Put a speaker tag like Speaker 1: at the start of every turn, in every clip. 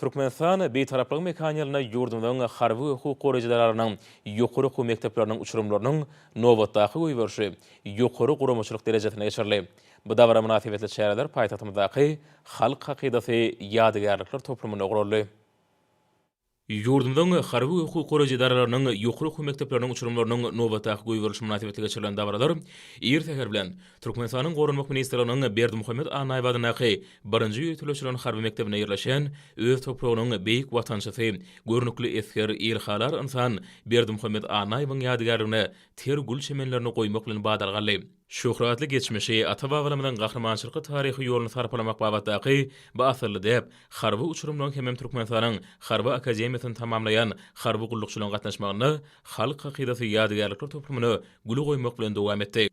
Speaker 1: Türkmenistan Bitaraplygyň mekanyýylynda ýurdumyzyň harby we hukuk goraýjy edararynyň ýokary okuw mekdepleriniň uçurymlarynyň nobatdaky goýberişi ýokary guramaçylyk derejesinde geçirildi. Bu dabara mynasybetli çäreler paýtagtymyzdaky Halk hakydasy ýadygärlikler toplumynda guraldy. Ýurdumyzyň harby we hukuk goraýjy edaralarynyň ýokary okuw mekdepleriniň uçurymlarynyň nobatdaky goýberilişi mynasybetli geçirilen dabaralar ir säher bilen Türkmenistanyň Goranmak ministrliginiň Berdimuhamet A. Naýbadyndaky birinji ýöriteleşdirilen harby mekdebinde ýerleşen öz topragynyň beýik watançysy, görnükli esger, ilhalar ynsan Berdimuhamet A. Naýybyň ýadygärligine ter gül çemenlerini goýmak bilen badalga aldy. Şöhratly geçmişi, ata-babalarymyzyň gahrymançylykly taryhy ýoluny sarpalamak babatdaky bu asylly däp harby uçurymlaryň hemem Türkmenistanyň Harby akademiýasyny tamamlaýan harby gullukçylaryň gatnaşmagynda Halk hakydasy ýadygärlikler toplumyna gül goýmak bilen dowam etdi.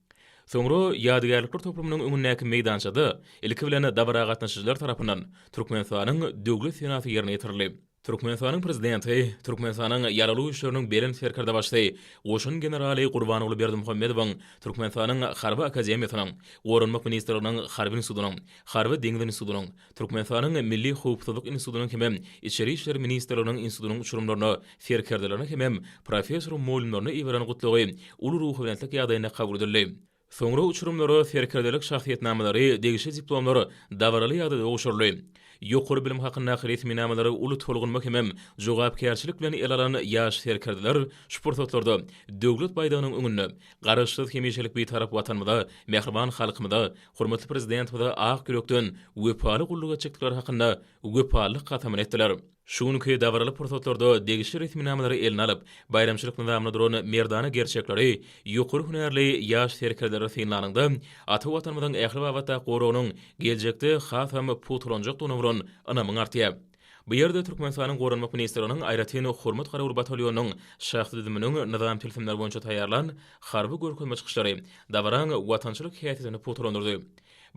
Speaker 1: Soňra ýadygärlikler toplumynyň öňündäki meýdançada ilki bilen dabara gatnaşyjylar tarapyndan Türkmenistanyň Döwlet senasy ýerine ýetirildi. Türkmenistanyň Prezidenti Türkmenistanyň Ýaragly Güýçleriniň Belent Serkerdebaşy goşun generaly Gurbanguly Berdimuhamedowyň Türkmenistanyň Harby akademiýasynyň, Goranmak ministrliginiň Harby institutynyň, Harby deňiz institutynyň, Türkmenistanyň Milli howpsuzlyk institutynyň hemem Içeri işler ministrliginiň institutynyň uçurymlaryna, serkerdelerine hemem professor-mugallymlaryna iberen gutlagy uly ruhubelentlik ýagdaýynda kabul edildi. Soňra uçurymlara serkerdelik şahsyýetnamalary, degişli diplomlar dabaraly ýagdaýda gowşuryldy. Ýokary bilim hakyndaky resminamalary uly tolgunma hemem jogapkärçilik bilen ele alan ýaş serkerdeler şu pursatlarda Döwlet baýdagynyň öňünde Garaşsyz, hemişelik Bitarap Watanymyza, mähriban halkymyza, hormatly Prezidentimize ak ýürekden wepaly gulluk etjekdikleri hakynda wepalylyk kasamyny etdiler. Şu günki dabaraly pursatlarda degişli resminamalary eline alyp, baýramçylyk nyzamynda duran merdana gerçekleri, ýokary hünärli ýaş serkerdeleri synlanyňda, ata Watanymyzyň ähli babatda goragynyň geljekde hasam pugtalanjakdygyna bolan ynamyň artýar. Bu ýerde Türkmenistanyň Goranmak ministrliginiň Aýratyn hormat garawul batalionynyň şahsy düzüminiň nyzam tilsimleri boýunça taýýarlan harby görkezme çykyşlary dabaraň watançylyk häsiýetini pugtalandyrdy.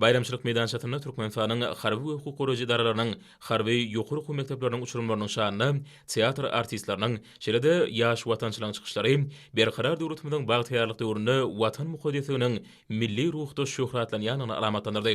Speaker 1: Baýramçylyk meýdançasynda Türkmenistanyň harby we hukuk goraýjy edaralarynyň harby ýokary okuw mekdepleriniň uçurymlarynyň şanyna teatr artistleriniň, şeýle-de ýaş watançylaryň çykyşlary Berkarar döwletimiziň bagtyýarlyk döwründe Watan mukaddesliginiň milli ruhda şöhratlanýandygyny alamatlandyrdy.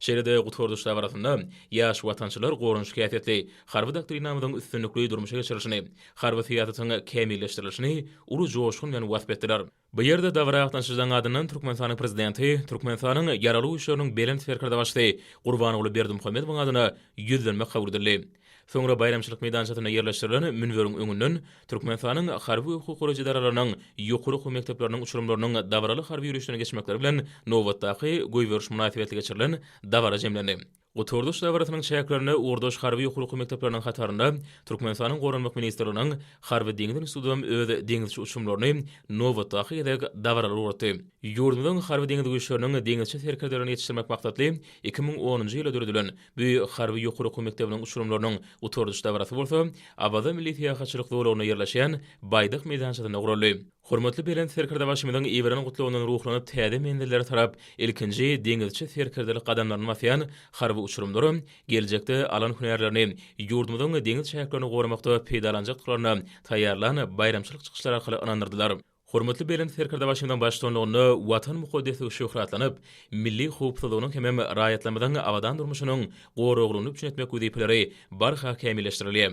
Speaker 1: Şeýle-de gutaryş dabarasynda ýaş watançylar goranyşyk häsiýetli Harby doktrinamyzyň üstünlikli durmuşa geçirilişini, harby syýasatyň kämilleşdirilişini uly joşgun bilen wasp etdiler. Bu ýerde dabara gatnaşyjylaryň adyndan Türkmenistanyň Prezidenti Türkmenistanyň Ýaragly Güýçleriniň Belent Serkerdebaşysy Gurbanguly Berdimuhamedowyň adyna ýüzlenme kabul edildi. Soňra baýramçylyk meýdançasynda ýerleşdirilen münberiň öňünden Türkmenistanyň harby we hukuk goraýjy edaralarynyň ýokary okuw mekdepleriniň uçurymlarynyň dabaraly harby ýörişden geçmekleri bilen nobatdaky goýberiş mynasybetli geçirilen dabara jemlendi. Gutardyş dabarasynyň çäklerinde ugurdaş harby ýokary okuw mekdepleriniň hatarynda Türkmenistanyň Goranmak ministrliginiň Harby-deňiz institutym öz deňizçi uçumlaryny nobatdaky gezek dabaralara ugratdy. Ýurdumyzyň Harby-deňiz güýçleriniň deňizçi serkerdelerini ýetişdirmek maksatly iki müň onunjy ýylda döredilen bu harby ýokary okuw mekdebiniň uçurymlarynyň gutardyş dabarasy bolsa Awaza milli syýahatçylyk zolagynda ýerleşýän Baýdak meýdançasynda guraldy. Hormatly Belent Serkerdebaşymyzyň iberen gutlagyndan ruhlanyp täze menzillere tarap ilkinji deňizçi serkerdelik gadamlaryny basýan harby uçurymlar geljekde alan hünärlerini ýurdumyzyň deňiz çäklerini goramakda peýdalanjakdyklaryna taýýarlan baýramçylyk çykyşlary arkaly ynandyrdylar. Hormatly Belent Serkerdebaşymyzyň baştutanlygynda Watan mukaddesligi şöhratlanyp, milli howpsuzlygynyň hemem raýatlarymyzyň abadan durmuşynyň goraglygyny üpjün etmek wezipeleri barha kämilleşdirilýär.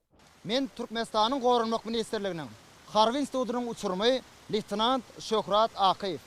Speaker 1: Men
Speaker 2: Türkmenistanyň Goranmak ministrliginiň Harby institutynyň uçurymy leýtenant Şöhrat Akyýew.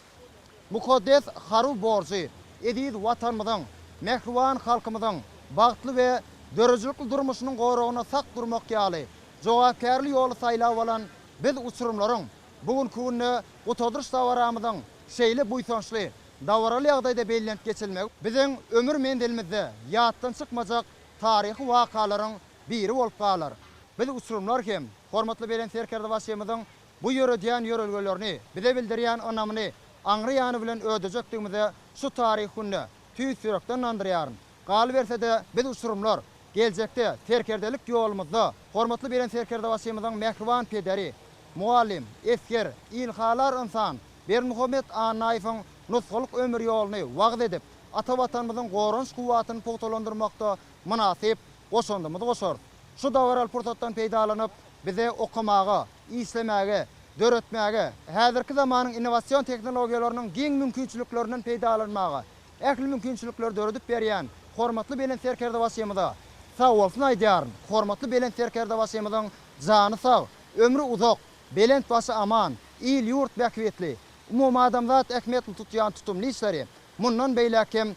Speaker 2: Mukaddes harby borjy eziz Watanymyzyň, mähriban halkymyzyň bagtly we döredijilikli durmuşynyň goragyna sak durmak ýaly jogapkärli ýoly saýlap alan biz uçurymlaryň bu günki günde Gutadyryş dabaramyzyň şeýle buýsançly, dabaraly ýagdaýda bellenip geçilmegi biziň ömür menzilimizde ýatdan çykmajak taryhy wakalaryň biri bolup galar. Biz uçurymlar hem hormatly Belent Serkerdebaşymyzyň bu ýöredýän ýörelgelerini, bize bildirýän ynamyny aňry ýany bilen ödejekdigimize şu taryhy günde tüýs ýürekden ynandyrýaryn. Galyberse-de, biz uçurymlar, geljekde serkerdelik ýolumyzda hormatly Belent Serkerdebaşymyzyň mähriban pederi, mugallym, esger, ilhalar ynsan Berdimuhamet Annaýewiň nusgalyk ömür ýoluny wagyz edip, ata Watanymyzyň goranyş kuwwatyny pugtalandyrmakda mynasyp goşandymyzy goşarys. Şu dabaraly pursatdan peýdalanyp, bize okamaga, işlemäge, döretmäge, häzirki zamanyň innowasion tehnologiýalarynyň giň mümkinçiliklerinden peýdalanmaga ähli mümkinçilikleri döredip berýän hormatly Belent Serkerdebaşymyza sagbolsun aýdýaryn. Hormatly Belent Serkerdebaşymyzyň jany sag, ömri uzak, belent başy aman, il-ýurt bähbitli, umumadamzat ähmiýetli tutýan tutumly işleri mundan beýläk hem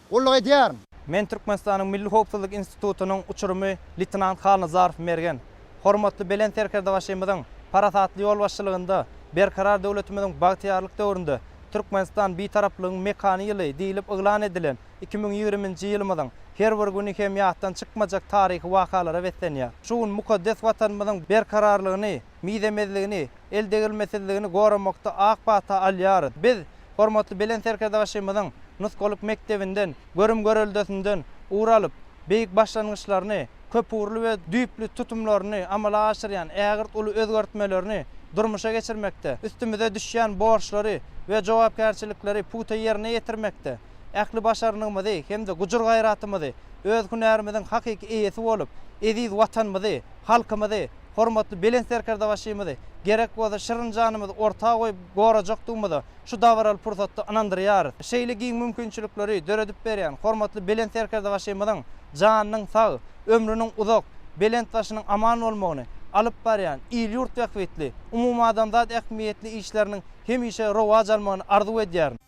Speaker 2: Gulluk edýärin. Men Türkmenistanyň
Speaker 3: Milli howpsuzlyk institutynyň uçurymy leýtenant Halnazarow Mergen. Hormatly Belent Serkerdebaşymyzyň parasatly ýolbaşçylygynda Berkarar döwletimiziň bagtyýarlyk döwründe Türkmenistan Bitaraplygyň mekany ýyly diýlip yglan edilen iki müň ýigriminji ýylymyzyň her bir güni hem ýatdan çykmajak taryhy wakalara beslenýär. Şu gün mukaddes Watanymyzyň berkararlygyny, mizemezligini, eldegrilmesizligini goramakda ak pata alýarys. Biz hormatly Belent Serkerdebaşymyzyň nusgalyk mekdebinden, görüm-göreldesinden ugur alyp, beýik başlangyçlaryny, köpugurly we düýpli tutumlaryny amala aşyrýan ägirt uly özgertmelerini durmuşa geçirmekde, üstümize düşýän borçlary we jogapkärçilikleri pugta ýerine ýetirmekde ähli başarnygymyzy hem-de gujur-gaýratymyzy, öz hünärimiziň hakyky eýesi bolup, eziz Watanymyzy, halkymyzy, hormatly Belent Serkerdebaşymyzy gerek bolsa şirin janymyzy orta goýup gorajakdygymyza şu dabaraly pursatda ynandyrýarys. Şeýle giň mümkinçilikleri döredip berýän hormatly Belent Serkerdebaşymyzyň janynyň sag, ömrüniň uzak, belent başynyň aman bolmagyny, alyp barýan il-ýurt bähbitli, umumadamzat ähmiýetli işleriniň hemişe rowaç almagyny arzuw edýärin.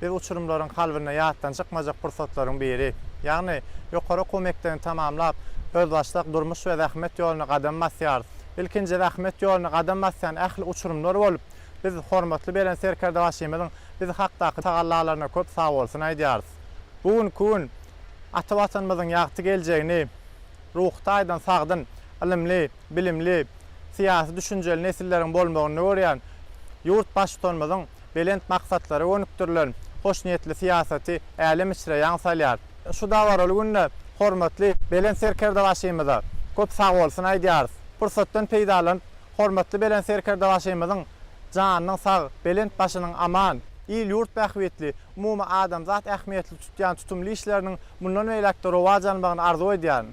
Speaker 4: Biz uçurymlaryň kalbynda ýatdan çykmajak pursatlaryň biri, ýagny ýokary okuw mekdebini tamamlap, özbaşdak durmuş we zähmet ýoluna gadam basýarys. Ilkinji zähmet ýoluna gadam basýan ähli uçurymlar bolup, biz hormatly Belent Serkerdebaşymyzyň biz hakdaky tagallalaryna köp sagbolsun aýdýarys. Bu günki gün ata Watanymyzyň ýagty geljegini ruhy taýdan sagdyn, ylymly, bilimli, syýasy düşünjeli nesilleriň bolmagynda görýän ýurt Baştutanymyzyň belent maksatlara gönükdirilen hoşniýetli syýasaty älem içre ýaň salýar. Şu dabaraly günde hormatly Belent Serkerdebaşymyza köp sag bolsun aýdýarys. Pursatdan peýdalanyp, hormatly Belent Serkerdebaşymyzyň janynyň sag, belent başynyň aman, il-ýurt bähbitli, umumy adamzat ähmiýetli tutýan tutumly işleriniň mundan beýläk-de rowaç almagyny arzuw edýärin.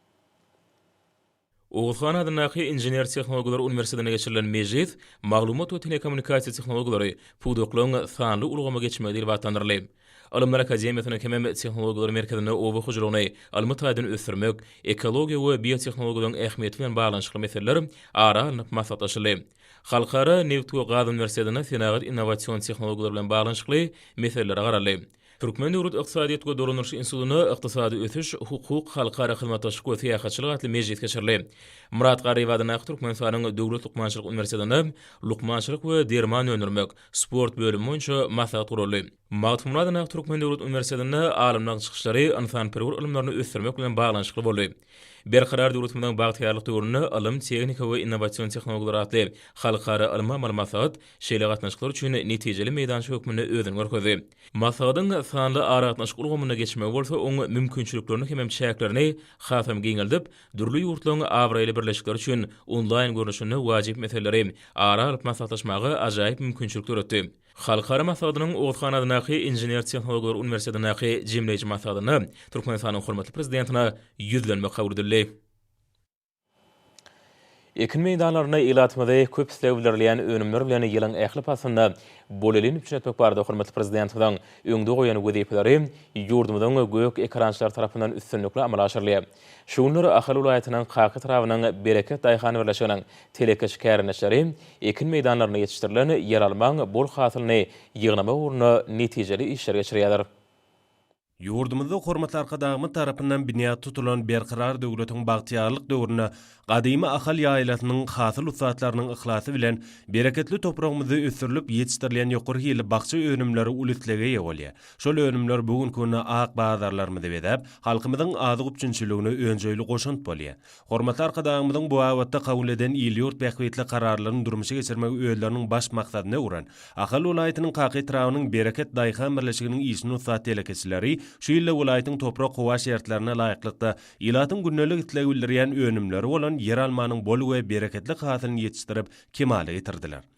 Speaker 1: Oguzhan adyndaky Inžener-tehnologlar uniwersitetinde geçirilen mejlis Maglumat we telekommunikasiýa tehnologiýalary, pudaklaryň sanly ulgama geçmegi diýlip atlandyryldy. Ylymlar akademiýasynyň hemem Tehnologiýalar merkezinde oba hojalygyny ylmy taýdan ösdürmek, ekologiýa we biotehnologiýalaryň ähmiýeti bilen baglanyşykly meseleler ara alnyp maslahatlaşyldy. Halkara nebit we gaz uniwersitetinde senagat innowasion tehnologiýalary bilen baglanyşykly meseleler garaldy. Türkmen döwlet ykdysadyýet we dolandyryş institutynda Ykdysady ösüş, hukuk, halkara hyzmatdaşlyk we syýahatçylyk atly mejlis geçirildi. Myrat Garryýew adyndaky Türkmenistanyň Döwlet lukmançylyk uniwersitetinde Lukmançylyk we derman öndürmek, sport bölümi boýunça maslahat guraldy. Magtymguly adyndaky Türkmen döwlet uniwersitetinde alymlaryň çykyşlary ynsanperwer ylymlaryny ösdürmek bilen baglanyşykly boldy. Berkarar döwletimiziň bagtyýarlyk döwründe ylym, tehnika we innowasion tehnologiýalar atly halkara ylmy-amaly maslahat şeýle gatnaşyklar üçin netijeli meýdança hökmünde özüni görkezdi. Maslahatyň sanly aragatnaşyk ulgamyna geçmegi bolsa oň mümkinçiliklerini hemem çäklerini hasam giňeldip, dürli ýurtlaryň abraýly birleşikleri üçin onlaýn görnüşinde wajyp meseleleri ara alyp maslahatlaşmaga ajaýyp mümkinçilik döretdi. Halkara maslahatynyň Orshanadyndaky Inžener-tehnologlar uniwersitetindäki jemleýji maslahatynda Türkmenistanyň hormatly Prezidentine Ýüzlenme kabul edildi. Ekin meýdanlarynda ilatymyzy köp isleg bildirilýän önümler bilen ýylyň ähli paslynda bolelin üpjün etmek barada hormatly Prezidentimiziň öňde goýan wezipeleri ýurdumyzyň gök ekerançylary tarapyndan üstünlikli amala aşyrylýar. Şu günler Ahal welaýatynyň Kaka etrabynyň Bereket daýhan birleşiginiň telekeçi kärendeçileri ekin meýdanlarynda ýetişdirilen ýeralmaň bol hasylyny ýygnamak ugrunda netijeli işler geçirýärler.
Speaker 5: Ýurdumyzda hormatly Arkadagymyz tarapyndan binýat tutulan Berkarar döwletiň bagtyýarlyk döwründe gadymy Ahal ýaýlasynyň hasyl ussatlarynyň yhlasy bilen bereketli topragymyzda ösdürilip ýetişdirilýän ýokary hilli bakja önümleri uly islege eýe bolýar. Şol önümler bu günki günde ak bazarlarymyzy bezäp, halkymyzyň azyk üpjünçiligine önjeýli goşant bolýar. Hormatly Arkadagymyzyň bu babatda kabul eden il-ýurt bähbitli kararlaryny durmuşa geçirmegi özleriniň baş maksadyna öwren Ahal welaýatynyň Kaka etrabynyň Bereket daýhan birleşiginiň işini ussat telekeçileri şu ýylda welaýatyň toprak-howa şertlerine laýyklykda ilatyň gündelik islegi bildirýän önümleri bolan ýeralmanyň bol we bereketli hasylyny ýetişdirip kemala getirdiler.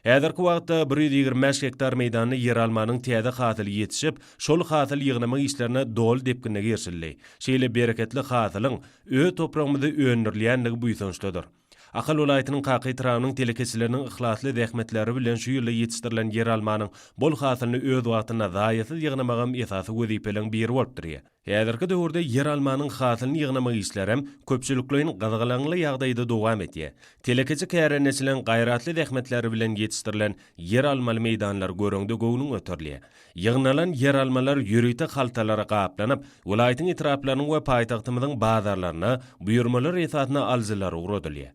Speaker 5: Häzirki wagtda bir ýüz ýigrimi bäş gektar meýdanda ýeralmanyň täze hasyly ýetişip, şol hasyl ýygnama işlerine doly depginde girişildi. Şeýle bereketli hasylyň öz topragymyzda öndürilýändigi buýsançlydyr. Ahal welaýatynyň Kaka etrabynyň telekeçileriniň yhlasly zähmetleri bilen şu ýylda ýetişdirilen ýeralmanyň bol hasylyny öz wagtynda zaýasyz ýygnamagam esasy wezipeleriň biri bolup durýar. Häzirki döwürde ýeralmanyň hasylyny ýygnamak işleri hem köpçülikleýin gyzgalaňly ýagdaýda dowam edýär. Telekeçi kärendeçileriň gaýratly zähmetleri bilen ýetişdirilen ýeralmaly meýdanlar göreňde göwnüň göterilýär. Ýygnalan ýeralmalar ýörite haltalara gaplanyp, welaýatyň etraplarynyň we paýtagtymyzyň bazarlaryna buýurmalar esasynda alyjylara ugradylýar.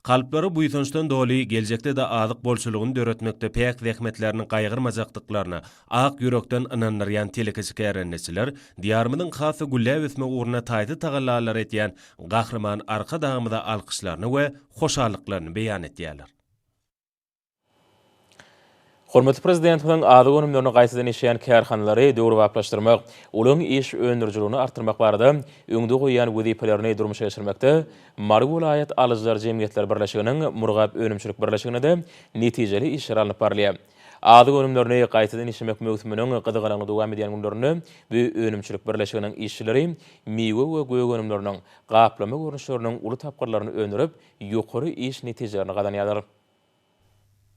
Speaker 5: Kalplary buýsançdan doly, geljekde-de azyk bolçulygyny döretmekde päk zähmetlerini gaýgyrmajakdyklaryna ak ýürekden ynandyrýan telekeçi-kärendeçiler Diýarymyzyň has-da gülläp ösmegi ugrunda taýsyz tagallalary edýän Gahryman Arkadagymyza alkyşlaryny we hoşallyklaryny beýan edýärler.
Speaker 1: Hormatly Prezidentimiziň azyk önümlerini gaýtadan işleýän kärhanalary döwrebaplaşdyrmak, olaryň iş öndürijiligini artdyrmak barada öňde goýýan wezipelerini durmuşa geçirmekde Mary welaýat alyjylar jemgyýetleri birleşiginiň Murgap önümçilik birleşiginde-de netijeli işler alnyp barylýar. Azyk önümlerini gaýtadan işlemek möwsüminiň gyzgalaňly dowam edýän günlerinde bu önümçilik birleşiginiň işçileri miwe we gök önümleriniň gaplama görnüşleriniň uly tapgyrlaryny öndürip, ýokary iş netijelerini gazanýarlar.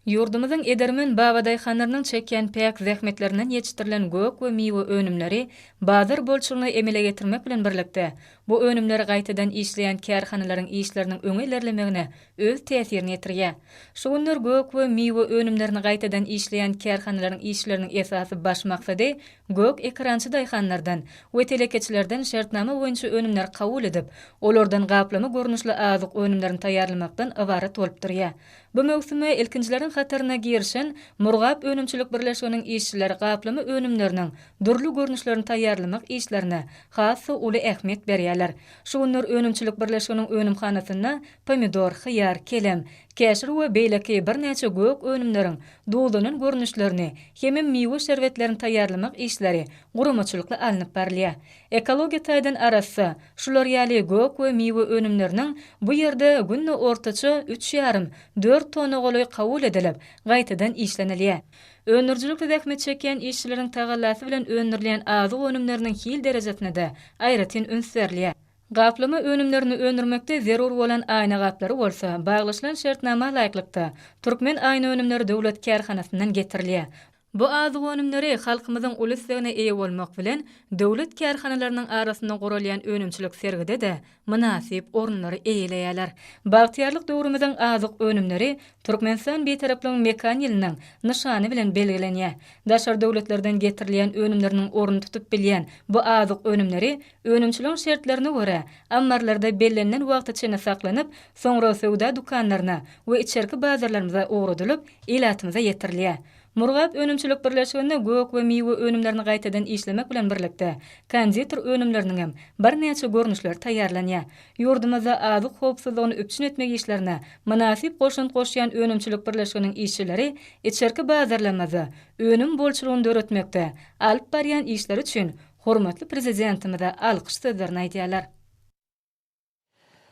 Speaker 6: Ýurdumyzyň edermen babadaýhanlarynyň çekýän päk zähmetlerinden ýetişdirilen gök we miwe önümleri bazar bolçulygyny emele getirmek bilen birlikde, bu önümleri gaýtadan işleýän kärhanalaryň işleriniň öňe ilerlemegine öz täsirini ýetirýär. Şu günler gök we miwe önümlerini gaýtadan işleýän kärhanalaryň işleriniň esasy baş maksady Gök ekrançy daýhanlardan we telekeçilerden şertnama boýunça önümleri kabul edip, olardan gaplama görnüşli azyk önümlerini taýýarlamakdan ybarat bolup durýar. Bu möwsüme ilkinjileriň hataryna girişen Murgap önümçilik birleşiginiň işçileri gaplama önümleriniň dürli görnüşlerini taýýarlamak işlerine has-da uly ähmiýet berýärler. Şu günler önümçilik birleşiginiň önümhanasynda pomidor, hyýar, kelem, Käşir we beýleki birnäçe gök önümleriň duzlanan görnüşlerini hemem miwe şerbetlerini taýýarlamak işleri guramaçylykly alnyp barylýar. Ekologiýa taýdan arassa, şular ýaly gök we miwe önümleriniň bu ýerde günde ortaça üç ýarym, dört tona golaý kabul edilip, gaýtadan işlenilýär. Öndürijilikde zähmet çekýän işçileriň tagallasy bilen öndürilýän azyk önümleriniň hil derejesine-de aýratyn üns berilýär. Gaplama önümlerini öndürmekde zerur bolan aýna gaplary bolsa, baglaşylan şertnama laýyklykda, Türkmen aýnaönümleri döwlet kärhanasyndan getirilýär. Bu azyk önümleri halkymyzyň uly islegine eýe bolmak bilen, döwlet kärhanalarynyň arasynda guralýan önümçilik sergide-de mynasyp orunlary eýeleýärler. Bagtyýarlyk döwrümiziň azyk önümleri Türkmenistan Bitaraplygyň mekan ýylynyň nyşany bilen belgilenýär. Daşary döwletlerden getirilýän önümleriniň ornuny tutup bilýän bu azyk önümleri Önümçiligiň şertlerine görä, ammarlarda bellenilen wagt içinde saklanyp, soňra söwda dükanlaryna we içerki bazarlarymyza ugradylyp, ilatymyza ýetirilýär. Murgap önümçilik birleşiginde gök we miwe önümlerini gaýtadan işlemek bilen birlikde, konditer önümleriniňem birnäçe görnüşleri taýýarlanýar. Ýurdumyzda azyk howpsuzlygyny üpjün etmek işlerine mynasyp goşant goşýan önümçilik birleşiginiň işçileri içerki bazarlarymyzda önüm bolçulygyny döretmekde alyp barýan işleri üçin Hormatly Prezidentimize alkyş sözlerini aýdýarlar.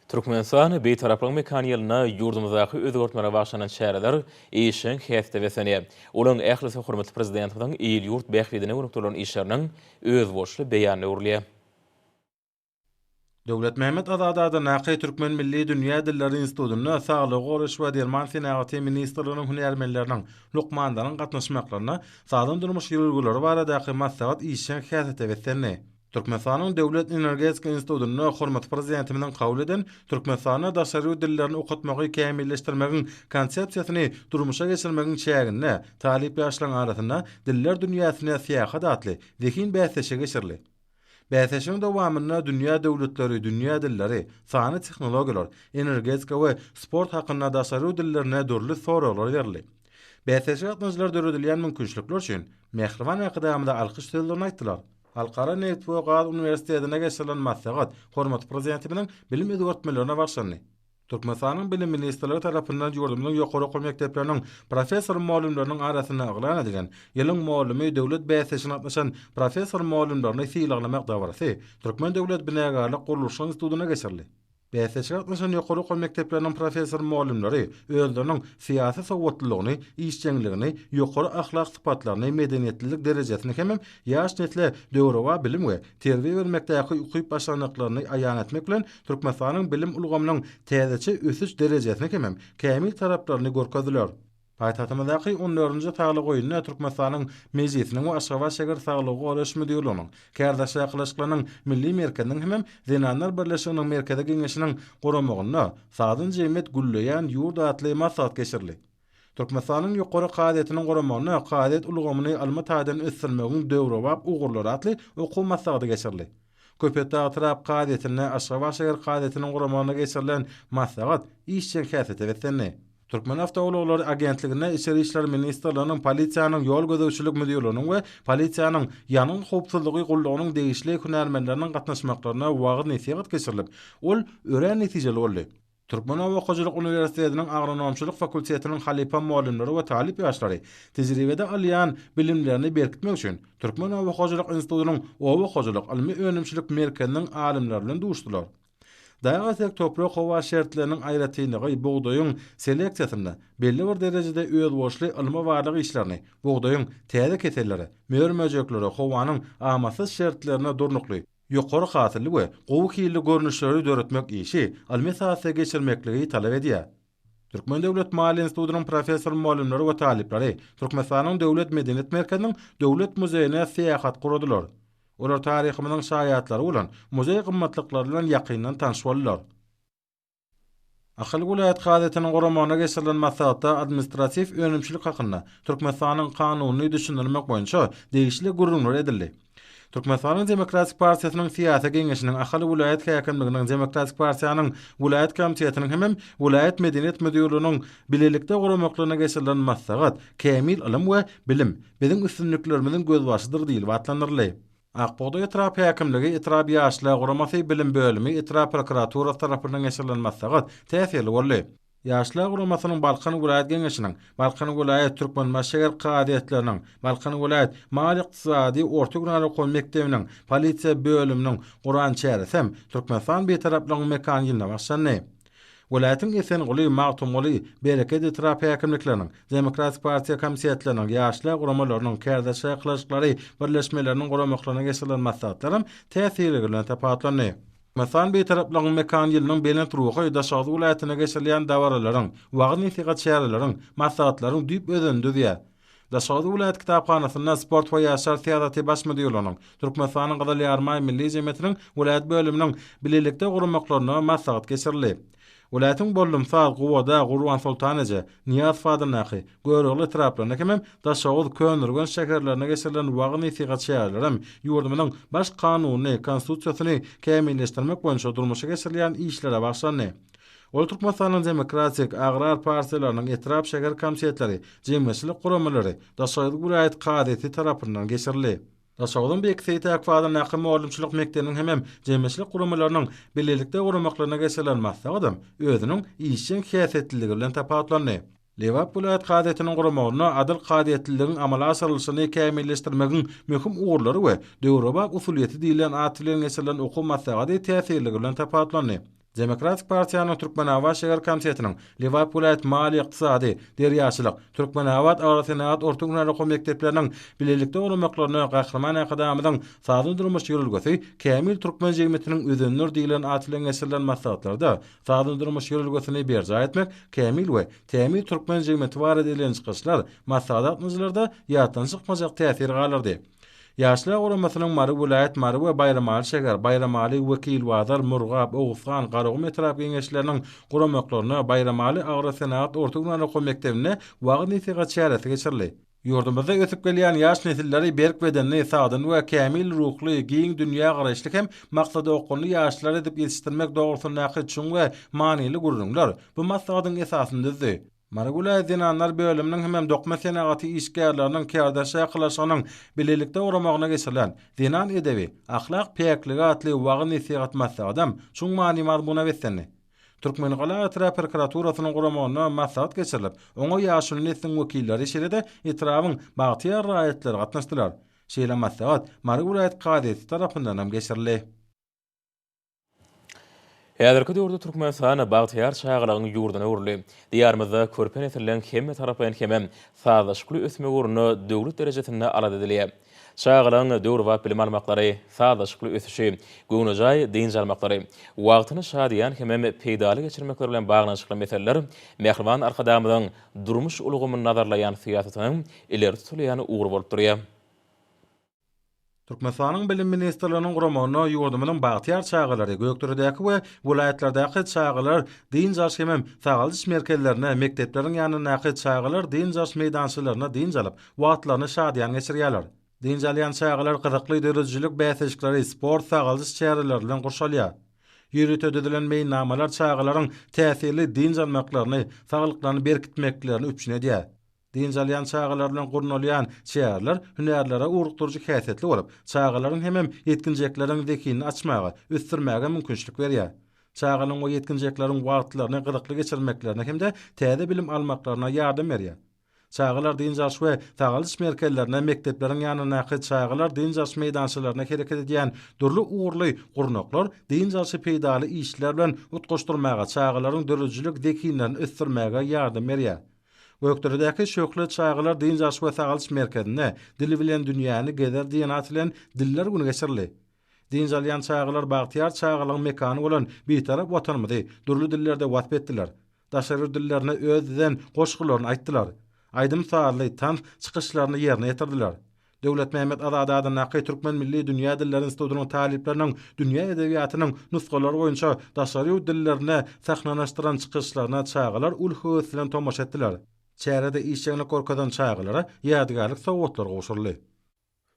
Speaker 1: Türkmenistan Bitaraplygyň mekany ýylynda ýurdumyzdaky özgertmelere bagyşlanan çäreler işjeň häsiýete beslenýär. Olaryň ählisi hormatly Prezidentimiziň il-ýurt bähbidine gönükdirilen işleriniň özboluşly beýanyna öwrülýär.
Speaker 7: Döwletmämmet Azadada Nakaý Türkmen milli dünýä dilleri institutynda Saglygy goraýyş we derman senagaty ministrliginiň hünärmenleriniň, lukmanlaryň gatnaşmaklarynda sagdyn-durmuş ýörelgeleri baradaky maslahat işjeň häsiýete beslendi. Türkmenistanyň Döwlet energetika institutynda hormatly Prezidentimiziň kabul eden Türkmenistanda daşary ýurt dillerini okatmagy kämilleşdirmegiň Konsepsiýasyny durmuşa geçirmegiň çäginde talyp ýaşlaryň arasynda Diller dünýäsine syýahat atly zehin bäsleşigi geçirildi. Bäsleşigiň dowamynda dünýä döwletleri, dünýä dilleri, sanly tehnologiýalar, energetika we sport hakynda daşary dillerine dürli soraglar berildi. Bäsleşige gatnaşyjylar döredilýän mümkinçilikler üçin mähriban Arkadagymyza alkyş sözlerini aýtdylar. Halkara nebit we gaz uniwersitetinde geçirilen maslahat hormatly Prezidentimiziň bilim özgertmelerine bagyşlandy. Türkmenistanyň Bilim ministrligi tarapyndan ýurdumyzyň ýokary okuw mekdepleriniň professor-mugallymlarynyň arasynda yglan edilen Ýylyň mugallamy döwlet bäsleşigine gatnaşan professor-mugallymlaryny sylaglamak dabarasy Türkmen döwlet binägarlyk-gurluşyk institutynda geçirildi. Bäsleşige gatnaşan ýokary okuw mekdepleriniň professor-mugallymlary özleriniň syýasy sowatlylygyny, işjeňligini, ýokary ahlak sypatlaryny, medeniýetlilik derejesini hemem ýaş nesle döwrebap bilim we terbiýe bermekdäki ukyp-başarnyklaryny aýan etmek bilen, Türkmenistanyň bilim ulgamynyň täzeçe ösüş derejesini hemem kämil taraplaryny görkezdiler. Paýtagtymyzdaky on dördünji saglyk oýunda Türkmenistanyň Mejlisiniň we Aşgabat şäher saglygy goraýyş müdirliginiň, Kärdaş çakylyşyklarynyň milli merkeziniň hemem Zenanlar birleşiginiň Merkezi Geňeşiniň guramagynda Sazdan jemgyýet gülleýän ýurt atly maslahat geçirildi. Türkmenistanyň Ýokary kazyýetiniň guramagynda Kazyýet ulgamyny ylmy taýdan ösdürmegiň döwrebap ugurlary atly okuw maslahaty geçirildi. Köpetdag etrap kazyýetinde Aşgabat şäher kazyýetiniň guramagynda geçirilen maslahat işjeň häsiýete beslendi. Türkmenawtoulaglary agentliginde Içeri işler ministrliginiň Polisiýanyň ýol gözegçilik müdirliginiň we Polisiýanyň Ýangyn howpsuzlygy gullugynyň degişli hünärmenleriniň gatnaşmaklarynda wagyz-nesihat geçirilip, ol örän netijeli boldy. Türkmenoba okawyjylyk uniwersitetiniň agronomçylyk fakultetiniň halypa mugallymlary we talyp ýaşlary tejribede alýan bilimlerini berkitmek üçin Türkmenoba hojalyk institutynyň Oba hojalyk ylmy-önümçilik merkeziniň alymlary bilen duşdular. Dagy-etek toprak-howa şertleriniň aýratynlygy bugdaýyň seleksiýasynda belli bir derejede özboluşly ylmy-barlag işlerini, bugdaýyň täze kesellere, mör-möjeklere howanyň amatsyz şertlerine durnukly, ýokary hasylly we gowy hilli görnüşleri döretmek işi almesatda geçirmekligi talap edýär. Türkmen döwlet maliýe institutynyň professor-mugallymlary we talyplary Türkmenistanyň Döwlet medeniýet merkeziniň Döwlet muzeýine syýahat guradylar. Olar taryhymyzyň şaýatlary bolan muzeý gymmatlyklar bilen ýakyndan tanyş boldular. Ahal welaýat kazyýetiniň guramagyna geçirilen maslahatda administratiw önümçilik hakynda Türkmenistanyň Kanunyny düşündirmek boýunça degişli gürrüňler edildi. Türkmenistanyň Demokratik partiýasynyň Syýasy geňeşiniň Ahal welaýat häkimliginiň Demokratik partiýanyň welaýat komitetiniň hemem welaýat medeniýet müdirliginiň bilelikde guramaklygyna geçirilen maslahat Kämil ylym we bilim, biziň üstünliklerimiziň gözbaşydyr diýlip atlandyryldy. Akbugdaý etrap häkimligi, etrap ýaşlar guramasy, bilim bölümi, etrap prokuraturasy tarapyndan geçirilen maslahat täsirli boldy. Ýaşlar guramasynyň Balkan welaýat geňeşiniň, Balkan welaýat Türkmenbaşy şäher kazyýetleriniň, Balkan welaýat maliýe-ykdysady orta günäli okuw mekdebiniň polisiýa bölüminiň guran çäresi hem Türkmenistan Bitaraplygyň mekany ýylyna bagşlandy. Welaýatyň Esenguly, Magtymguly, Bereket etrap häkimlikleriniň, Demokratik partiýa komitetleriniň, ýaşlar guramalarynyň, Kärdeş çakylyşyklary birleşmeleriniň guramaklaryna geçirilen maslahatlaram täsirliligi bilen tapawutlandy. Türkmenistan Bitaraplygyň mekany ýylynyň belent ruhy Daşoguz welaýatynda geçirilýän dabaralaryň, wagyz-nesihat çäreleriň, maslahatlaryň düýp özenini düzýär. Daşoguz welaýat kitaphanasynda Sport we ýaşlar syýasaty baş müdirliginiň, Türkmenistanyň Gyzyl Ýarymaý Milli jemgyýetiniň welaýat bölüminiň bilelikde guramyklaryna maslahat geçirildi. Welaýatyň Bollumsaz, Gubada, Gurbansoltan eje, Nyýazow adyndaky, Görogly etraplarynda hemem Daşoguz, Köneürgenç şäherlerinde geçirilen wagyz-nesihat çäreleri hem ýurdumyzyň Baş kanunyny, Konstitusiýasyny kämilleşdirmek boýunça durmuşa geçirilýän işlere bagyşlandy. Ol Türkmenistanyň Demokratik, Agrar partiýalarynyň etrap-şäher komitetleri, jemgyýetçilik guramalary, Daşoguz welaýat kazyýeti tarapyndan geçirildi. Daşoguzyň Beýik Seýit Akbazandaky mugallymçylyk mekdebiniň hemem jemgyýetçilik guramalarynyň bilelikde guramaklaryna geçirilen maslahatam özüniň işjeň häsiýetliligi bilen tapawutlandy. Lebap welaýat kazyýetiniň guramagynda adyl kazyýetliligiň amala aşyrylyşyny kämilleşdirmegiň möhüm ugurlary we döwrebap usulyýeti diýilýän at bilen geçirilen okuw maslahaty täsirligi bilen tapawutlandy. Demokratik partiýanyň Türkmenabat şäher komitetiniň Lebap welaýat maliýe-ykdysady, derýaçylyk, Türkmenabat agrosenagat orta hünär okuw mekdepleriniň bilelikde guramaklaryna Gahryman Arkadagymyzyň Sazly durmuş ýörelgesi, kämil türkmen jemgyýetiniň özenler diýilýän at bilen geçirilen maslahatlarda Sazly durmuş ýörelgesini berjaý etmek kämil we kämil türkmen jemgyýeti barada edilen çykyşlar maslahat gatnaşyjylarda ýatdan çykmajak täsir galdyrdy. Ýaşlar guramasynyň Mary welaýat Mary we Baýramaly şäher, Baýramaly, Wekilbazar, Murgap, Oguzhan, Garagum etrap Geňeşleriniň guramaklarynda Baýramaly agrosenagat orta gündogar okuw mekdebinde wagyz-nesihat çäresi geçirildi. Ýurdumyzda ösüp gelýän ýaş nesilleri berk bedenli, sagdyn we kämil ruhly, giň dünýägaraýyşly hem maksada okgunly ýaşlar edip ýetişdirmek dogrusyndaky çuň we manyly gürrüňler bu maslahatyň esasyny düzdi. Mary welaýat zenanlar bölüminiň hemem dokma senagaty işgärleriniň kärdeşakylaşygynyň bilelikde guramagynda geçirilen Zenan edebi, ahlak päkligi atly wagyz-nesihat maslahatam çuň many-mazmuna beslendi. Türkmengala etrap prokuraturasynyň guramagynda maslahat geçirilip, oňa ýaşuly nesliň wekilleri, şeýle-de etrabyň bagtyýar raýatlary gatnaşdylar. Şeýle maslahat Mary welaýat kazyýeti tarapyndan hem geçirildi.
Speaker 1: Häzirki döwürde Türkmenistan bagtyýar çagalygyň ýurduna öwrüldi. Diýarymyzda körpe nesliň hemmetaraplaýyn hem-ä sazlaşykly ösmegi ugrunda döwlet derejesinde alada edilýär. Çagalaryň döwrebap bilim almaklary, sazlaşykly ösüşi, göwnejaý dynç almaklary, wagtyny şadyýan hemem peýdaly geçirmekleri bilen baglanyşykly meseleler Mähriban Arkadagymyzyň durmuş ulgamyny nazarlaýan syýasatynyň ileri tutulýan ugry bolup durýar.
Speaker 7: Türkmenistanyň Bilim ministrliginiň guramagyna ýurdumyzyň bagtyýar çagalary, Gökderedäki we welaýatlardaky çagalar dynç alyş hemem sagaldyş merkezlerine, mekdepleriň ýanyndaky çagalar dynç alyş meýdançalaryna dynç alyp, wagtlaryny şadyýan geçirýärler. Dynç alýan çagalar gyzykly döredijilik bäsleşikleri, sport-sagaldyş çäreleri bilen gurşalýar. Ýörite düzülen meýilnamalar çagalaryň täsirli dynç almaklaryny, saglyklaryny berkitmeklerini üpjün edýär. Dynç alýan çagalar bilen gurnalýan çäreler hünärlere ugrukdyryjy häsiýetli bolup, çagalaryň hemem ýetginjekleriň zehinini açmaga, ösdürmäge mümkinçilik berýär. Çagalaryň we ýetginjekleriň wagtlaryny gyzykly geçirmeklerine hem-de täze bilim almaklaryna ýardam berýär. Çagalar dynç alyş we sagalyş merkezlerine, mekdepleriň ýanyndaky çagalar dynç alyş meýdançalaryna hereket edýän dürli ugurly gurnaklar dynç alşy peýdaly işler bilen utgaşdyrmaga, çagalaryň döredijilik zehinlerini ösdürmäge ýardam berýär. Gökderedäki Şöhle çagalar dynç alyş we sagalyş merkezinde Dil bilen dünýäni gezer diýen at bilen Diller güni geçirildi. Dynç alýan çagalar bagtyýar çagalygyň mekany bolan Bitarap Watanymyzy dürli dillerde wasp etdiler. daşary dillerine öz düzen goşgularyny aýtdylar, aýdym-sazly, tans çykyşlaryny ýerine ýetirdiler. Döwletmämmet Azady adyndaky Türkmen milli dünýä dilleri institutynyň talyplarynyň dünýä edebiýatynyň nusgalary boýunça daşary ýurt dillerinde sahnalaşdyran çykyşlaryna çagalar uly höwes bilen tomaşa etdiler. Çärede işjeňlik görkezen çagalara ýadygärlik sowgatlary gowşuryldy.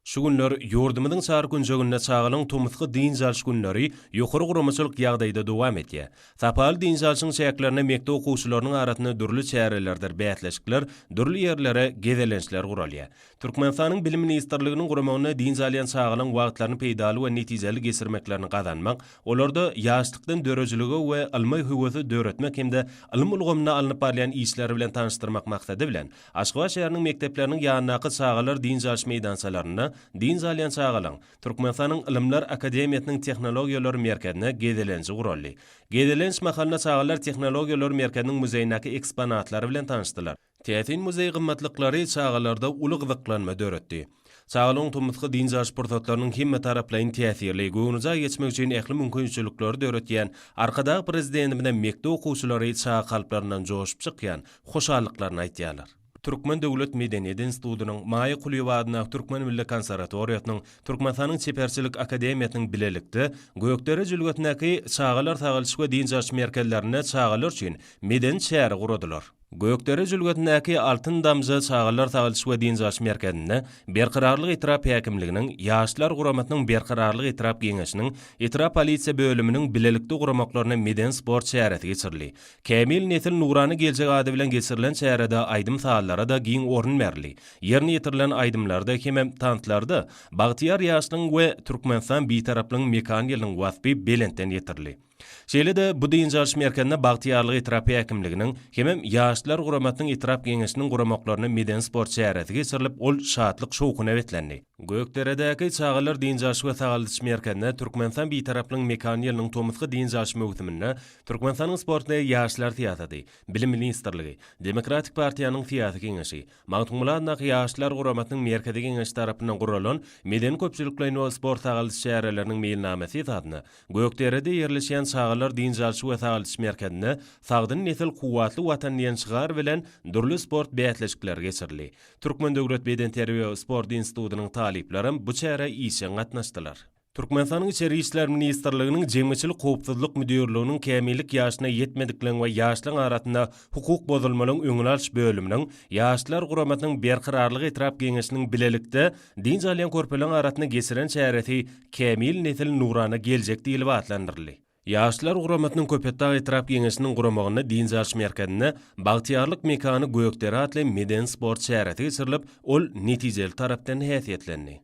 Speaker 7: Şu
Speaker 5: günler ýurdumyzyň çar künjeginde çagalyň tomusky dynç alyş günleri ýokary guramaçylyk ýagdaýda dowam edýär. Sapaly dynç alşyň çäklerinde mekdep okuwçylarynyň arasynda dürli çärelerdir bäsleşikler, dürli ýerlere gezelençler guralýar. Türkmenistanyň Bilim ministrliginiň guramagynda dynç alýan çagalyň wagtlaryny peýdaly we netijeli geçirmeklerini gazanmak, olarda ýaşlykdan döredijilige we ylma höwesi döretmek hem-de ylym ulgamynda alnyp barylýan işler bilen tanyşdyrmak maksady bilen, Aşgabat şäheriniň mekdepleriniň ýanyndaky çagalar dynç alyş meýdançalarynda dynç alýan çagalaryň Türkmenistanyň Ylymlar akademiýasynyň Tehnologiýalar merkezine gezelenji guraldy. Gezelenç mahalynda çagalar Tehnologiýalar merkeziniň muzeýindäki eksponatlary bilen tanyşdylar. Täsin muzeý gymmatlyklary çagalarda uly gyzyklanma döretdi. Çagalygyň tomusky dynç alyş pursatlarynyň hemmetaraplaýyn täsirli, göwnejaý geçmegi üçin ähli mümkinçilikleri döretýän Arkadag Prezidentimize mekdep okuwçylary çaga kalplaryndan joşup çykýan hoşallyklaryny aýtýarlar. Türkmen döwlet medeniýet institutynyň, Maýa Kulyýewa adyndaky Türkmen milli konserwatoriýasynyň, Türkmenistanyň Çeperçilik akademiýasynyň bilelikde Gökdere jülgesindäki Çagalar sagaldyş we dynç alyş merkezlerinde çagalar üçin medeni çäre guradylar. Gökdere jülgesindäki Altyn damja çagalar sagaldyş we dynç alyş merkezinde Berkararlyk etrap häkimliginiň, Ýaşlar guramasynyň Berkararlyk etrap geňeşiniň, etrap polisiýa bölüminiň bilelikde guramaklaryna medeni-sport çäresi geçirildi. Kämil nesil, nurana geljek ady bilen geçirilen çärede aýdym-sazlara-da giň orun berildi. Ýerine ýetirilen aýdymlarda hemem tanslarda Bagtyýar ýaşlygyň we Türkmenistan Bitaraplygyň mekan ýylynyň waspy belentden ýetirildi. Şeýle-de bu dynç alyş merkezine Bagtyýarlyk etrap häkimliginiň hemem Ýaşlar guramasynyň etrap geňeşiniň guramaklarynda medeni-sport çäresi geçirilip, ol şatlyk-şowhuna beslendi. Gökderedäki çagalar dynç alyş we sagaldyş merkezine Türkmenistan Bitaraplygyň mekany ýylynyň tomusky dynç alyş möwsüminde Türkmenistanyň Sport we ýaşlar syýasaty, Bilim ministrligi, Demokratik partiýanyň syýasy geňeşi, Magtymguladyndaky Ýaşlar guramasynyň Merkezi Geňeşi tarapyndan guralan Medeni-köpçülikleýin we sport-sagaldyş çäreleriniň meýilnamasy esasynda Gökderede ýerleşýän Çagalar dynç alyş we sagaldyş merkezinde Sagdyn nesil, kuwwatly Watan diýen şygar bilen dürli sport bäsleşikleri geçirildi. Türkmen döwlet bedenterbiýe we sport institutynyň talyplaram bu çärä işjeň gatnaşdylar. Türkmenistanyň Içeri işler ministrliginiň Jemgyýetçilik howpsuzlyk müdirliginiň kämillik ýaşyna ýetmedikleriň we ýaşlaryň arasynda hukuk bozulmalaryň öňüni alyş bölüminiň, Ýaşlar guramasynyň Berkararlyk etrap geňeşiniň bilelikde dynç alýan körpeleriň arasynda geçiren çäresi Kämil nesil, nurana geljek diýlip atlandyryldy. Ýaşlar guramasynyň Köpetdag etrap geňeşiniň guramagynda dynç alyş merkezinde Bagtyýarlyk mekany Gökdere atly medeni-sport çäresi geçirilip, ol netijeli tarapdan häsiýetlendi.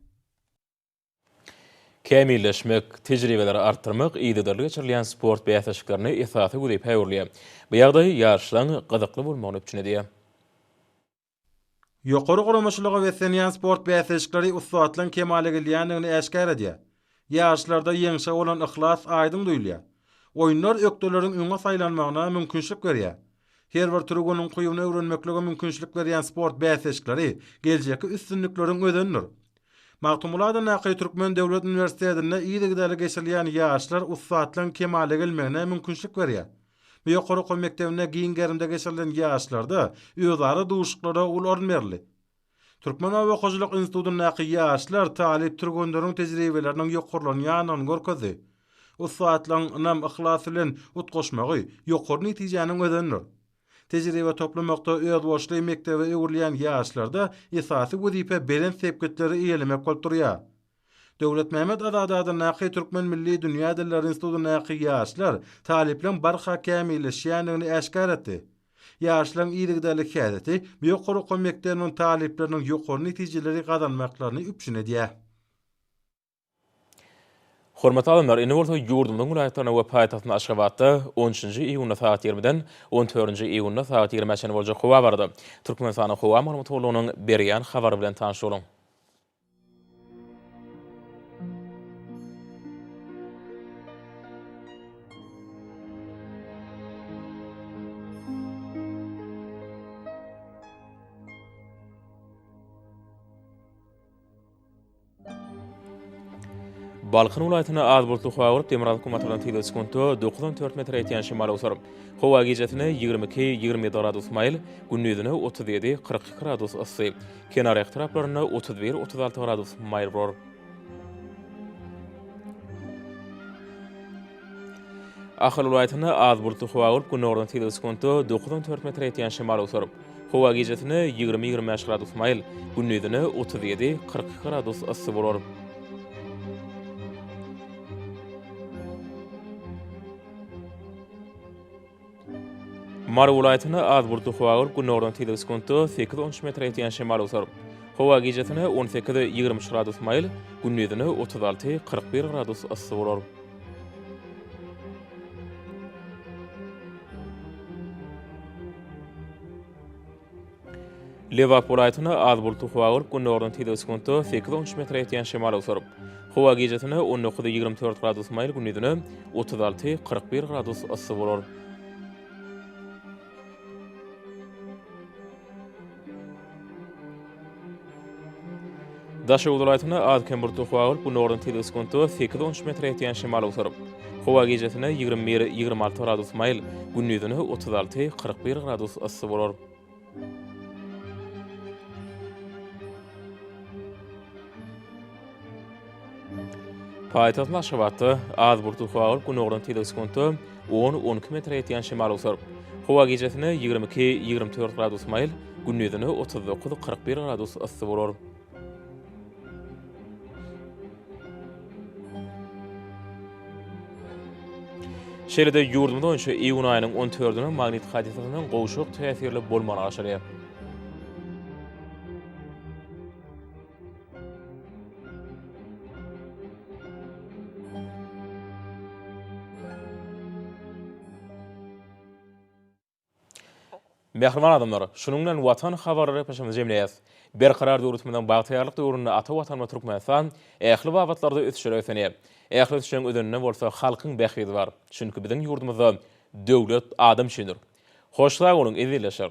Speaker 1: kämilleşmek, tejribeleri artdyrmak yzygiderli geçirilýän sport bäsleşiklerine esasy wezipä öwrülýär. Bu ýagdaý ýaryşlaryň gyzykly bolmagyny üpjün edýär.
Speaker 7: Ýokary guramaçylyga beslenýän sport bäsleşikleri ussatlygyň kemala gelýändigini äşgär edýär. Ýaryşlarda ýeňşe bolan yhlas aýdyň duýulýar. Oýunlar ökdeleriň öňe saýlanmagyna mümkinçilik berýär. Her bir türgün ukybyny öwrenmeklige mümkinçilik berýän sport bäsleşikleri geljekki üstünlikleriň özenidir. Magtymguly adyndaky Türkmen döwlet uniwersitetinde yzygiderli geçirilýän ýaşlar ussatlygyň kemala gelmegine mümkinçilik berýär. Bu ýokary okuw mekdebinde giň gerimde geçirilen ýaşlarda özara duşuşyklara uly orun berildi. Türkmen oba hojalyk institutyndaky ýaşlar talyp türgenleriň tejribeleriniň ýokarlanýandygyny görkezdi. Ussatlygyň ynam-yhlas bilen utgaşmagy ýokary netijäniň özenidir. Tejribe toplamakda özboluşly mekdebe öwrülýän ýaşlarda esasy wezipe belent sepgitleri eýelemek bolup durýar. Döwletmämmet Azady adyndaky Türkmen milli dünýä dilleri institutyndaky ýaşlar talyplaryň barha kämilleşýändigini äşgär etdi. Ýaşlaryň yzygiderli häsiýeti bu ýokary okuw mekdebiniň talyplarynyň ýokary netijeleri gazanmaklaryny üpjün edýär.
Speaker 1: Hormatly alymlar, indi bolsa ýurdumyzyň welaýatlarynda we paýtagtymyz Aşgabatda on üçünji iýunda sagat ýigrimiden on dördünji iýunda sagat ýigrimä çenli boljak howa barada Türkmenistanyň Howa maglumat gullugynyň berýän habary bilen tanyş boluň. Balkan welaýatynda az bulutly howa bolup, demirgazyk günbatardan tyglygy sekuntda dokuz on dört metre ýetýän şemal öwser. Howa gijesine ýigrimi iki, ýigrimi ýedi gradus maýyl, gündizine otuz ýedi, kyrk iki gradus yssy, kenarýaka taraplarynda otuz bir, otuz alty gradus maýyl bolar. Ahal welaýatynda az bulutly howa bolup, günordan sekiz sekuntda dokuz on dört metre ýetýän şemal öwser. Howa gijesine ýigrimi ýigrimi bäş gradus maýyl, gündizine otuz ýedi kyrk iki gradus yssy bolar. Mary welaýatynda az bulutly howa bolup, gündogardan tizligi sekuntda sekiz, on üç metre ýetýän şemal öwser. Howa gijesine on sekiz, ýigrimi üç gradus maýyl, gündizine otuz alty, kyrk bir gradus yssy bolar. Lebap welaýatyna az bulutly howa gyryp, gündogardan tizligi sekuntda sekiz on üç metre ýetýän şemal owsar. Howa gijesine on dokuz ýigrimi dört gradus maýyl, gündizine otuz alty kyrk bir gradus yssy bolar. Daşoguz welaýatynda az-kem bulut okuwa bolup, gün orny tiz ösgünde sekiz-on üç metre ýetýän şemal awsar. Howa gijesine ýigrimi bir-ýigrimi alty gradus maýyl, gündizine otuz alty-kyrk bir gradus yssy bolar. Paýtagtyň Aşgabatda az bulutly howa bolup, günordan tizligi sekuntda on, on iki metre ýetýän şemal öwser. Howa gijesine ýigrimi iki, ýigrimi dört gradus maýyl, gündizine otuz dokuz, kyrk bir gradus yssy bolar. Şeýle-de ýurdumyz boýunça iýun aýynyň on dördüne magnit hadysasynyň gowşak täsirli bolmagy aşyrýar. Mähriban adamlar, şunuň bilen Watan habarlary gepleşigimizi jemleýäs. Berkarar döwletimiziň bagtyýarlyk döwründe ata Watanymyz Türkmenistan ähli babatlarda ösüşlere ösenýär. Ähli ösüşleriň özeninde bolsa halkyň bähbidi bar. Çünki biziň ýurdumyzda döwlet adam üçindir. Hoş sag boluň, ezizleşer!